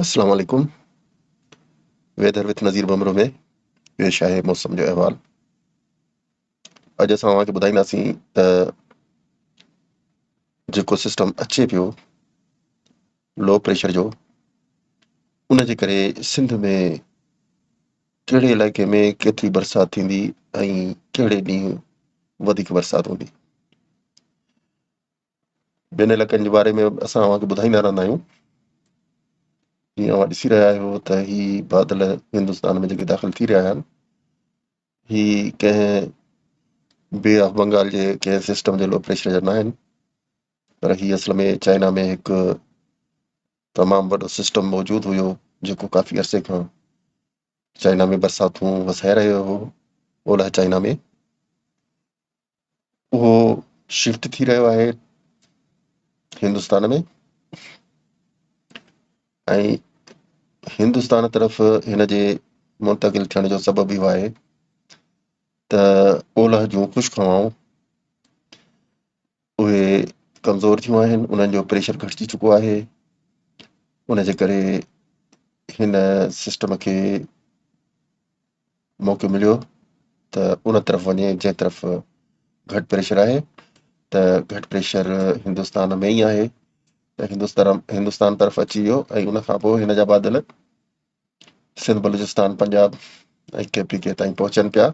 اسلام عليڪم weather with Nazir Bhambhro ۾ پيش آهي موسم جو احوال اڄ اسان اوهان کي ٻڌائينداسين ته جيڪو سسٽم اچي پيو لو پريشر جو ان جي ڪري سنڌ ۾ ڪهڙي علائقي ۾ ڪيتري برسات ٿيندي ۽ ڪهڙي ڏينهن وڌيڪ برسات هوندي ٻين علائقن جي باري ۾ به اسان اوهان کي ٻڌائيندا رهندا آهيون. جيئن اوهان ڏسي رهيا آهيو ته هي بادل هندستان ۾ جيڪي داخل ٿي رهيا آهن هي ڪنهن بي آف بنگال جي ڪنهن سسٽم جي لو پريشر جا ناهن پر هي اصل ۾ چائنا ۾ هڪ تمام وڏو سسٽم موجود هيو جيڪو ڪافي عرصي کان چائنا ۾ برساتون وسائي رهيو هو اولهه چائنا ۾ اهو شفٽ ٿي رهيو آهي هندستان ۾ ۽ هندستان طرف هن جي منتقل ٿيڻ جو سبب اهو آهي ته اولهه جون خشڪ هوائون اهي ڪمزور ٿيون آهن انهن جو پريشر گهٽجي چڪو آهي ان جي ڪري هن سسٽم کي موقعو مليو ته ان طرف وڃي جنهن طرف گهٽ پريشر آهي ته گهٽ پريشر هندستان ۾ ئي آهي ته هندستان هندستان طرف اچي ويو ۽ ان کان پوء هن جا بادل Sindh Balochistan Punjab ۽ K P K تائين پهچن پيا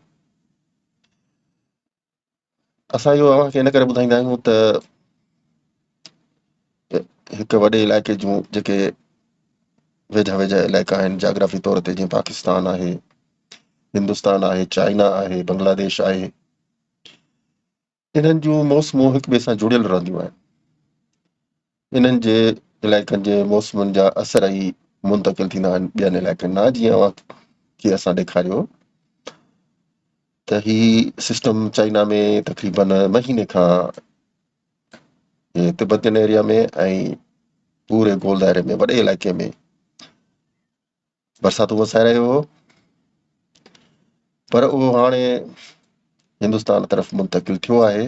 اسان اهو اوهان کي ان ڪري ٻڌائيندا آهيون ته هڪ وڏي علائقي جون جيڪي ويجها ويجها علائقا آهن جاگرافي طور تي جيئن پاڪستان آهي هندستان آهي چائنا آهي بنگلاديش آهي انهن جون موسمون هڪ ٻئي سان جڙيل رهنديون آهن انهن جي علائقن جي موسمن جا اثر ئي منتقل ٿيندا آهن ٻين علائقن ڏانهن جيئن اوهان کي اسان ڏيکاريو ته هي سسٽم چائنا ۾ تقريبا مهيني کان تبتين ايريا ۾ ۽ پوري گول دائري ۾ وڏي علائقي ۾ برساتون وسائي رهيو هو پر اهو هاڻي هندستان طرف منتقل ٿيو آهي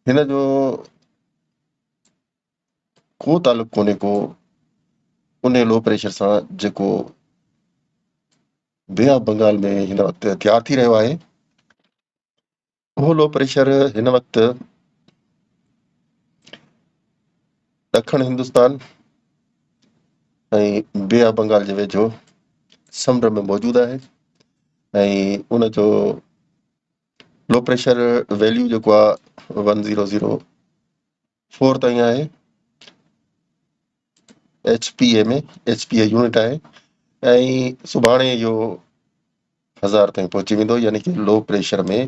هن جو ڪو تعلق ڪونهي ڪو ان لو پريشر سان جيڪو بي آف بنگال ۾ هن وقت تيار ٿي رهيو آهي اهو لو پريشر هن وقت ڏکڻ هندستان ۽ بي آف بنگال جي ويجهو سمنڊ ۾ موجود آهي ۽ ان جو لو پريشر ويليو جيڪو آهي ون زيرو زيرو فور تائين آهي H P A ۾ H P A unit آهي ۽ سڀاڻي اهو هزار تائين پهچي ويندو يعني ڪي لو پريشر ۾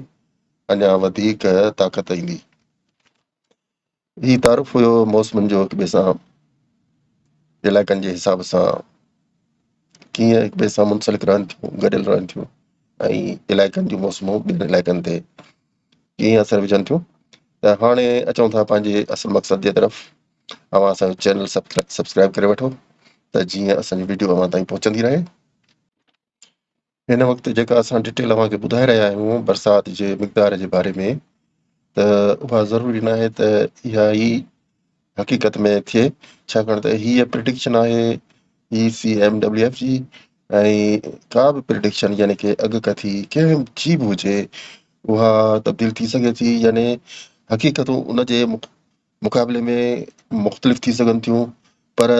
اڃا وڌيڪ طاقت ايندي هي تعارف هيو موسمن جو هڪ ٻئي سان علائقن جي حساب سان ڪيئن هڪ ٻئي سان منسلڪ رهن ٿيون گڏيل رهن ٿيون ۽ علائقن جون موسمون ٻين علائقن تي ڪيئي اثر وجهن ٿيون ته هاڻي اچون ٿا پنهنجي اصل مقصد جي طرف اوهان اسان جو چينل سبسڪرائيب ڪري وٺو ته جيئن اسان جي ويڊيو اوهان تائين پهچندي رهي هن وقت جيڪا اسان ڊيٽيل اوهان کي ٻڌائي رهيا آهيون برسات جي مقدار جي باري ۾ ته اها ضروري ناهي ته اها ئي حقيقت ۾ ٿئي ڇاڪاڻ ته هيء پريڊڪشن آهي E C M W F جي ۽ ڪا به پريڊڪشن يعني ڪي اڳڪٿي ڪنهن جي به هجي اها تبديل ٿي سگهي ٿي يعني حقيقتون ان جي مقابلي ۾ مختلف ٿي سگهن ٿيون پر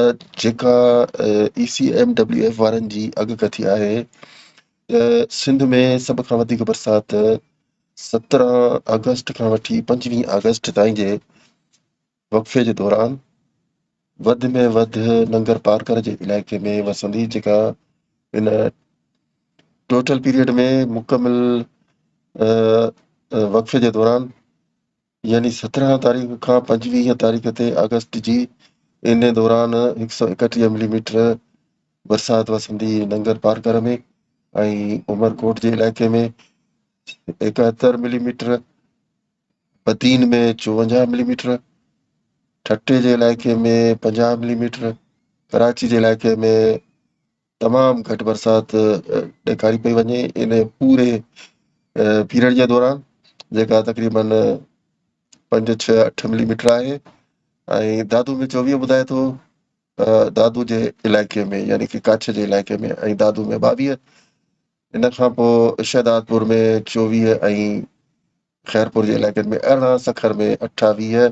جيڪا E C M W F وارن جي اڳڪٿي آهي ته سنڌ ۾ سڀ کان وڌيڪ برسات سترهن آگسٽ کان وٺي پنجويهه آگسٽ تائين جي وقفي جي دوران وڌ ۾ وڌ ننگرپارڪر جي علائقي ۾ وسندي جيڪا ان ٽوٽل پيريڊ ۾ مڪمل وقفي جي دوران يعني سترهن تاريخ کان پنجويهه تاريخ تي آگسٽ جي ان دوران هڪ سؤ اڪٽيهه ملي ميٽر برسات وسندي ننگر پارڪر ۾ ۽ عمرڪوٽ جي علائقي ۾ ايڪهتر ملي ميٽر بدين ۾ چوونجاهه ملي ميٽر، ٺٽي جي علائقي ۾ پنجاهه ملي ميٽر، ڪراچي جي علائقي ۾ تمام گهٽ برسات ڏيکاري پئي وڃي ان پوري پيريڊ جي دوران جيڪا تقريبن پنج ڇهه اٺ ملي ميٽر آهي ۽ دادو ۾ چوويهه ٻڌائي ٿو دادو جي علائقي ۾ يعني ڪي ڪاڇ جي علائقي ۾ ۽ دادو ۾ ٻاويهه ان کان پوء شهدادپور ۾ چوويهه ۽ خيرپور جي علائقن ۾ ارڙهن، سکر ۾ اٺاويهه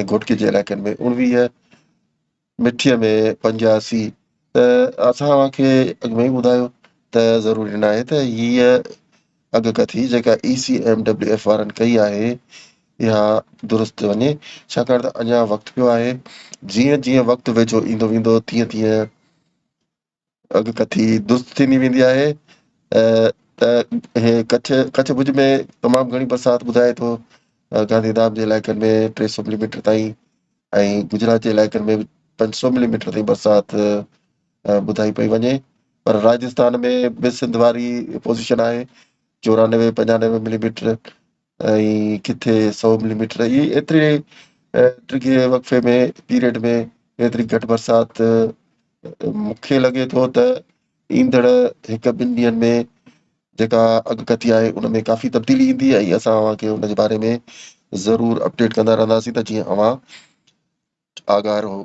۽ گهوٽڪي جي علائقن ۾ اڻويهه، مٺيء ۾ پنجاسي ته اسان اوهان کي اڳ ۾ ئي ٻڌايو ته ضروري ناهي ته هيء اڳڪٿي جيڪا E C M W F وارن ڪئي آهي اها درست وڃي ڇاڪاڻ ته اڃا وقت پيو آهي جيئن جيئن وقت ويجهو ايندو ويندو تيئن تيئن اڳ ڪٿي درست ٿيندي ويندي آهي ته هي ڪڇ ڪڇ ڀڄ ۾ تمام گهڻي برسات ٻڌائي ٿو گاندي ڌام جي علائقن ۾ ٽي سؤ ملي ميٽر تائين ۽ گجرات جي علائقن ۾ پنج سؤ ملي ميٽر تائين برسات ٻڌائي پئي وڃي پر راجستان ۾ به سنڌ واري پوزيشن آهي چورانوي پنجانوي ملي ميٽر ۽ ڪٿي سؤ ملي ميٽر اهي ايتري ڊگهي وقفي ۾ پيريڊ ۾ ايتري گهٽ برسات مون کي لڳي ٿو ته ايندڙ هڪ ٻن ڏينهن ۾ جيڪا اڳڪٿي آهي ان ۾ ڪافي تبديلي ايندي ۽ اسان اوهان کي ان جي باري ۾ ضرور اپڊيٽ ڪندا رهنداسين ته جيئن اوهان آگاهه رهو.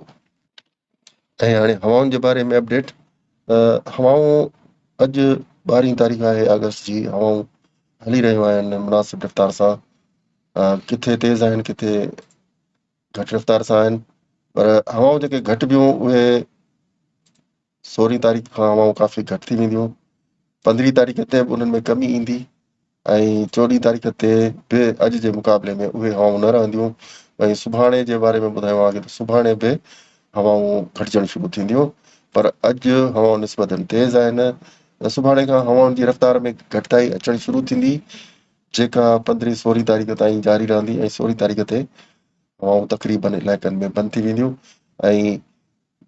۽ هاڻي هوائن جي باري ۾ اپڊيٽ هوائون اڄ ٻارهين تاريخ آهي آگسٽ جي هوائون هلي رهيون آهن مناسب رفتار سان ڪٿي تيز آهن ڪٿي گهٽ رفتار سان آهن پر هوائون جيڪي گهٽ بيون اهي سورهين تاريخ کان هوائون ڪافي گهٽ ٿي وينديون پندرهين تاريخ تي به انهن ۾ ڪمي ايندي ۽ چوڏهين تاريخ تي به اڄ جي مقابلي ۾ اهي هوائون نه رهنديون ۽ سڀاڻي جي باري ۾ ٻڌايو آهي ته سڀاڻي به هوائون گهٽجڻ شروع ٿينديون پر اڄ هوائون نسبتا تيز آهن سڀاڻي کان هوائن جي رفتار ۾ گهٽتائي اچڻ شروع ٿيندي جيڪا پندرهين سورهين تاريخ تائين جاري رهندي ۽ سورهين تاريخ تي هوائون تقريبن علائقن ۾ بند ٿي وينديون ۽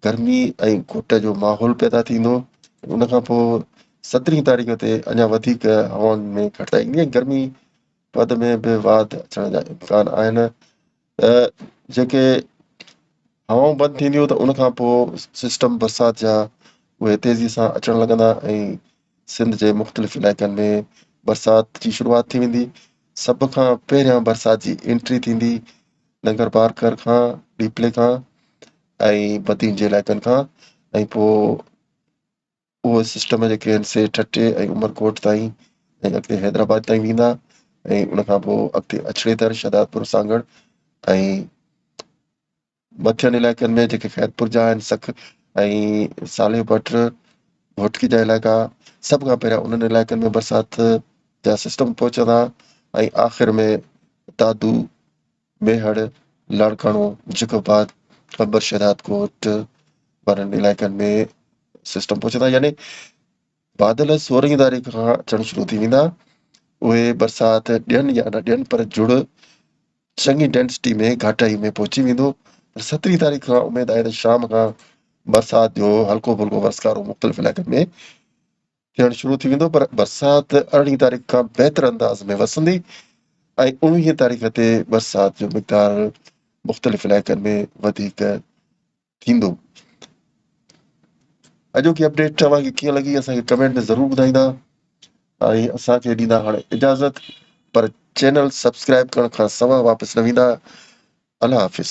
گرمي ۽ گهٽ جو ماحول پيدا ٿيندو ۽ ان کان پوء سترهين تاريخ تي اڃا وڌيڪ هوائن ۾ گهٽتائي ايندي ۽ گرمي پد ۾ به واڌ اچڻ جا امڪان آهن ته جيڪي هوائون بند ٿينديون ته ان کان پوء سسٽم برسات جا اهي تيزي سان اچڻ لڳندا ۽ سنڌ جي مختلف علائقن ۾ برسات جي شروعات ٿي ويندي. سڀ کان پهريان برسات جي انٽري ٿيندي ننگر بارڪر کان، ڏيپلي کان ۽ بدين جي علائقن کان ۽ پوء اهو سسٽم جيڪي آهن سي ٺٽي ۽ عمرڪوٽ تائين ۽ اڳتي حيدرآباد تائين ويندا ۽ ان کان پوء اڳتي اڇڙي در، شهدادپور، سانگهڙ ۽ مٿين علائقن ۾ جيڪي خيرپور جا آهن سک ۽ صالح بٽ گهوٽڪي جا علائقا سڀ کان پهريان انهن علائقن ۾ برسات جا سسٽم پهچندا ۽ آخر ۾ دادو ميهڙ لاڙڪاڻو جيڪب آباد قمبر شهداد ڪوٽ وارن علائقن ۾ سسٽم پهچندا يعني بادل سورهين تاريخ کان اچڻ شروع ٿي ويندا. اهي برسات ڏين يا نه ڏين پر جڙ چڱي ڊينسٽي ۾ گهاٽائي ۾ پهچي ويندو. پر سترهين تاريخ کان اميد آهي ته شام کان برسات جو هلڪو ڦلڪو ورسڪارو مختلف علائقن ۾ ٿيڻ شروع ٿي ويندو پر برسات ارڙهين تاريخ کان بهتر انداز ۾ وسندي ۽ اڻويهين تاريخ تي برسات جو مقدار مختلف علائقن ۾ وڌيڪ ٿيندو. اڄوڪي اپڊيٽ توهان کي ڪيئن لڳي اسان کي ڪمينٽ ۾ ضرور ٻڌائيندا ۽ اسان کي ڏيندا هاڻي اجازت پر چينل سبسڪرائب ڪرڻ کان سوا واپس نه ويندا الله حافظ